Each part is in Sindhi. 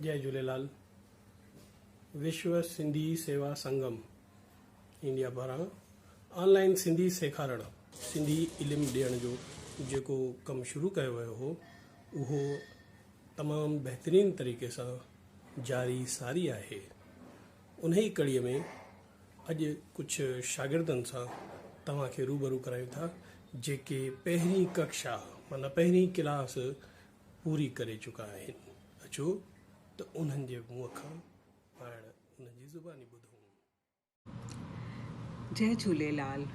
جئه جهوليلال وشو سنڌي سيوا سنگم انڊيا پاران آن لائين سنڌي سيکارڻ سنڌي علم ڏيڻ جو جيڪو ڪم شروع ڪيو ويو هو اهو تمام بهترين طريقي سان جاري ساري آهي انهي ڪڙي ۾ اڄ ڪجهه شاگردن سان توهان کي روبرو ڪرايون ٿا جيڪي پهرين ڪڪشا معنيٰ پهرين ڪلاس پوري ڪري چڪا آهن اچو ته انهن جي منهن کان پاڻ انهن جي زباني ٻڌون. جئه جهوليلال.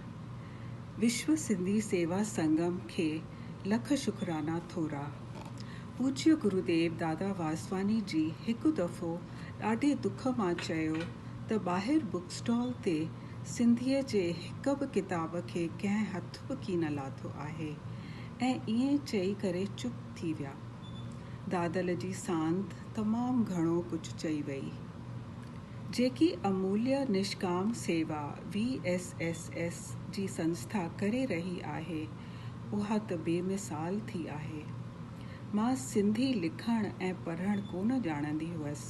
وشو سنڌي سيوا سنگم کي لک شڪرانا ٿورا. پوجيه گروديو دادا واسواني جي هڪ دفعو ڏاڍي دک مان چيو ته ٻاهر بوڪ اسٽال تي سنڌيء جي هڪ به ڪتاب کي ڪنهن هٿ به ڪين لاٿو آهي ۽ ائين چئي ڪري چپ ٿي ويا. دادل جي ساند تمام گهڻو ڪجهه چئي ويئي. جيڪي اموليه نشڪام سيوا وي ايس ايس ايس جي سنسٿا ڪري رهي آهي اها ته بي مثال ٿي آهي. مان سنڌي لکڻ ۽ پڙهڻ ڪونه ڄاڻندي هئس.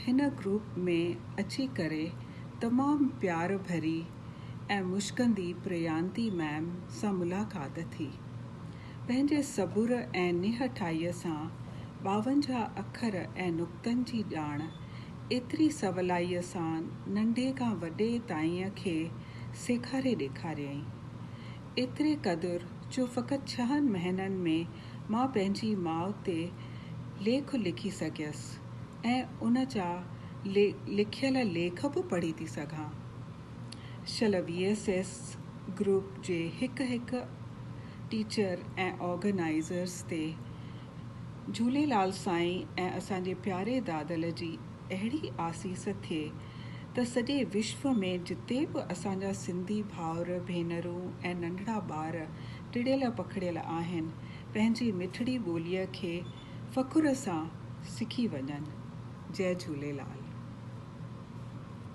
هن گروپ ۾ اچي ڪري تمام پيار ڀري ۽ مشڪندي پريانتي ميم سان ملاقات ٿي. پنهنجي صبر ۽ نهٺائيء سان ٻاونجاهه اکر ۽ نقطن جي ڄاڻ ايتري سولائيء سان ننڍي کان وڏي تائين کي سيکاري ڏيکاريائين. ايتري قدر جو فقط ڇهن مهينن ۾ مان پنهنجي ماء تي ليک لکي سگهيس ۽ ان جا لکيل ليک به پڙهي ٿي سگهان. شل وي ايس ايس گروپ جي هڪ هڪ ٽيچر ۽ آرگنائيزرز تي جهوليلال سائين ۽ اسان جي پياري دادل جي اهڙي آسيس ٿئي ته سڄي وشو ۾ جتي به اسان جا سنڌي ڀائر ڀينرون ۽ ننڍڙا ٻار ٽڙيل پکڙيل آهن پنهنجي مٺڙي ٻولي کي فخر سان سکي وڃن جئ جهوليلال.